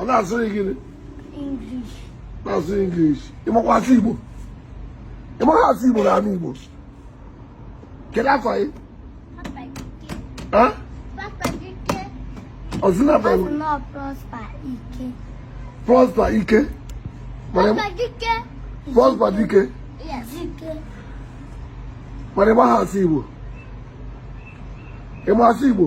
ọ na-asụghị gịnị na-asụ English ị makwa asụ Igbo ị maghị asụ Igbo na anị Igbo kedu afa gị ọzụna Prosper Ike Prosper Dike mana ị maghị asụ Igbo ị ma asụ Igbo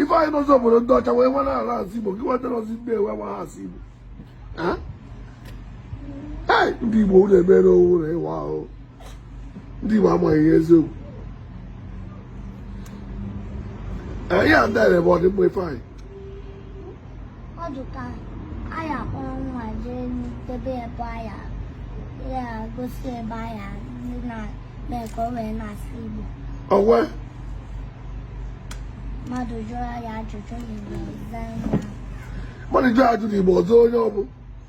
ife anyị n'ụzọ obodo ndị ọcha wee nwa na-ala asụ igbo gị nweta n'ọzi ndị ewe nwa ha asụ igbo ndị igbo unu emere owu na ịwa ahụ ndị igbo amaghị ihe eziokwu ihe a ndị bụ ọdịmma ife anyị ọ dị ka anyị akpọrọ nwa jee n'ebe ebe anyị ya-egosi ebe anyị ndị na-eme ka o wee na-asụ Igbo ọwa mmadụ jụọ ya ajụjụ n'Igbo ọ zaa mmadụ jụọ ajụjụ Igbo ọzọ onye ọ bụ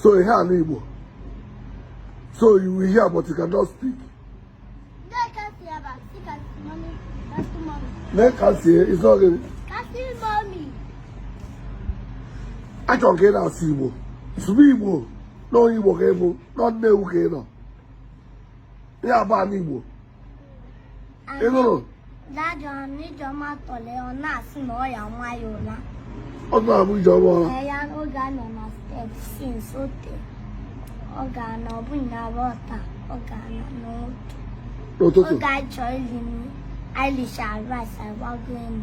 so ihe ala Igbo so you will hear but you cannot speak Lee ka si isi ọ gịnị achọrọ ka ị na-asụ Igbo sụba Igbo na onye Igbo ka ị bụ na Nnewi ka ị nọ ya bụ ala Igbo ị nụrụ Dadi ọ na Ijeọma tọrọ ya ọ na-asị na ọ ya-ama ya ụra. ọ tụrụ abụ ijeọma ụra Ee, ya oge a nọ na step since o tere. Ọ ga-ana ọ bụ na rọta ọ ga-ana n'otu. n'ụtụtụ Oge anyị chọrọ iri nri, anyị richara rice anyị gbago enu.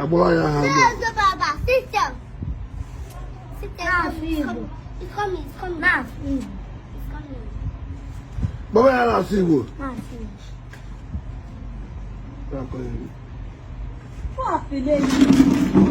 agbụrụ ya ha gbaba ya na-asụ Igbo Fuck,